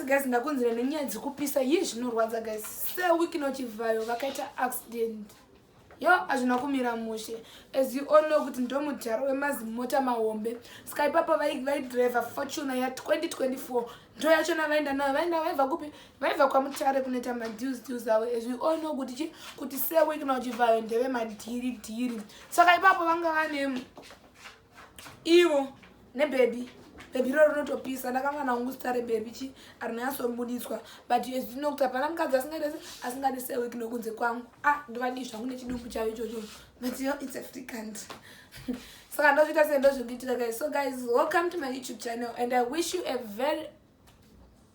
Yes guys ndakunzira nenyaya dzekupisa yii zvinorwadza guys sewiki nochivhayo vakaita accident yo hazvina kumira mushe as you all know kuti ndomudhara wemazimota mahombe ska ipapo vaidriver fortuna ya 2024 ndo yacho navaenda nayo vaenda vaibva kupi vaibva kwamutare kunoita madeals deals avo as we all know kuti chi kuti sewiki nochivhayo ndeve madhiri dhiri saka ipapo vanga vane ivo nebhebhi bhebhi iro rinotopisa ndakanga naungu zita rebhebhi chi arinyatsomuditswa but ezvino kuti hapana mukadzi asingaite se asingadi sewek nokunze kwangu a ah, ndovadii zvangu nechidumbu chavo ichocho but yo its africant saka ndozviita sei ndozvindiitika guys so guys welcome to my youtube channel and i wish you a very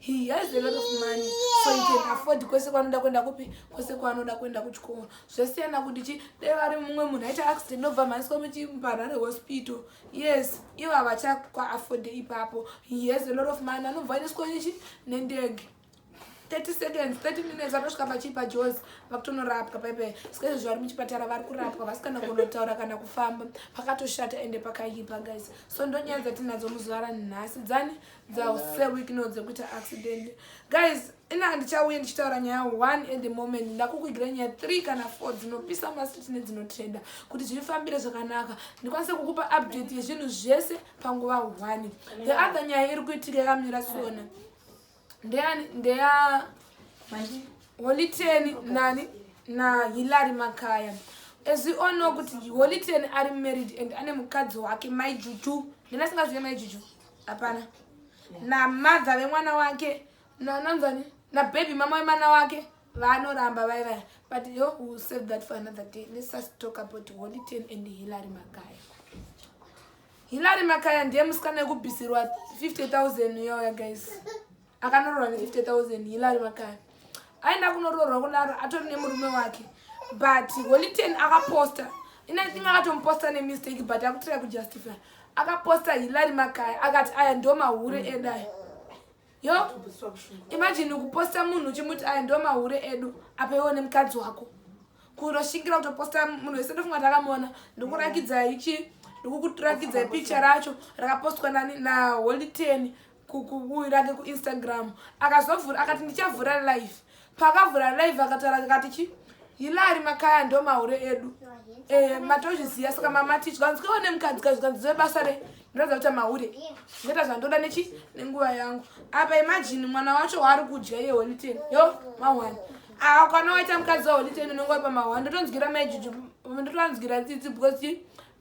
he has a lot of money so he can afford kwese kwanoda kuenda kupi kwese kwanoda kuenda kuchikoro zvasiyana kuti chi dai vari mumwe munhu aita accident obva mhaniswa muchiparare hospital yes ivo havachakwa afford ipapo he has a lot of money anobva aendeswa nechi nendege 30 seconds 30 minutes vatosvika pachipa jos vakutonorapwa paipai ska izvozvo vari muchipatara vari kurapwa vasikana kunotaura kana kufamba pakatoshata ende pakaipa guys so ndonyaya dzatinadzo muzuva ranhasi dzani dzasewikno dzekuita accident guys ina handichauye ndichitaura nyaya one at the moment ndakukuigira nyaya three kana four dzinopisa masiti nedzinotrenda kuti zvifambire zvakanaka ndikwanise kukupa update yezvinhu zvese panguva one the other nyaya iri kuitika yakamira sona ndeya ndeya holiteni nani na hilary makaya as we all know kuti holiteni ari married and ane mukadzi wake maijuju ndinasingazive maijuju hapana namadha vemwana wake nananzani nabhebhi mama wemwana wake vanoramba vai vaya but yo will save that for another day let's just talk about holy ten and hillary makaya hillary makaya ndiye musikana yekubhisirwa 50 000 yoya guys akanoroorwa ne 50000 hilary makani aenda kunoroorwa kudaro atori nemurume wake but holiten akaposta inithing akatomuposta nemistake but akutira kujustify akaposta hilary makaya akati aya ndo mahure mm. edu aya yo imajini kuposta munhu uchimuti aya ndo mahure edu apa iwo nemukadzi wako kunoshingira kutoposta munhu wese ndofunga takamona ndokurakidzai chi ndokukurakidzai picha racho rakapostwa nani naholiten rake kuinstagram akazovhura akati ndichavhura live paakavhura live akataura akati chi hilari makaya ndo mahure edu eh, matozviziva saka mamati zvikanzi kaiwa nemukadzi ka zvikanzi zive basa re ndinoratidza kuita mahure ndoita zvandoda nechi nenguva yangu apa imajini mwana wacho waari kudya iye holiten yo mahwani aa kwana waita mukadzi waholiten unenge wari pamahwani ndotonzwira maijuju ndotoanzwira tsitsi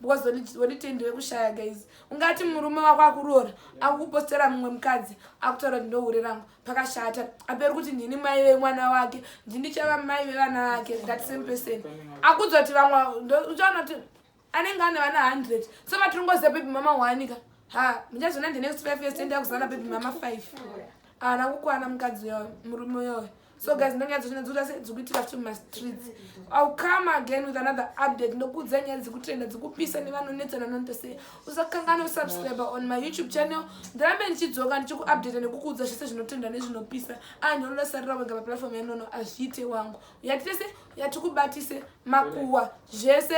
because holiten ndevekushaya guys ungati murume wako akuroora akukupostera mumwe mukadzi akutaura kuti ndohure rangu pakashata aperi kuti ndini mai vemwana wake ndindichava mai vevana vake that same person akudza kuti vamwe uchaona kuti anenge ane vana hundred so vatiri ngoziva bebi mama wanika ha muchazona the next five years toenda kuzana bebi mama five haana kukwana mukadzi uyoyo murume uyoyo so guys ndonyaya dzochina dzikuita sei dzikuitika futi mumastreets ill come again with another update ndokuudza nyaya dzikutenda dzikupisa nevanonetsana nonto sei usakangana usubscribe on my youtube channel ndirambe ndichidzoka ndichikuupdata nekukuudza zvese zvinotenda nezvinopisa ani ah, unosarira wega paplatform yanono azviite wangu yatese yatikubatise makuwa zvese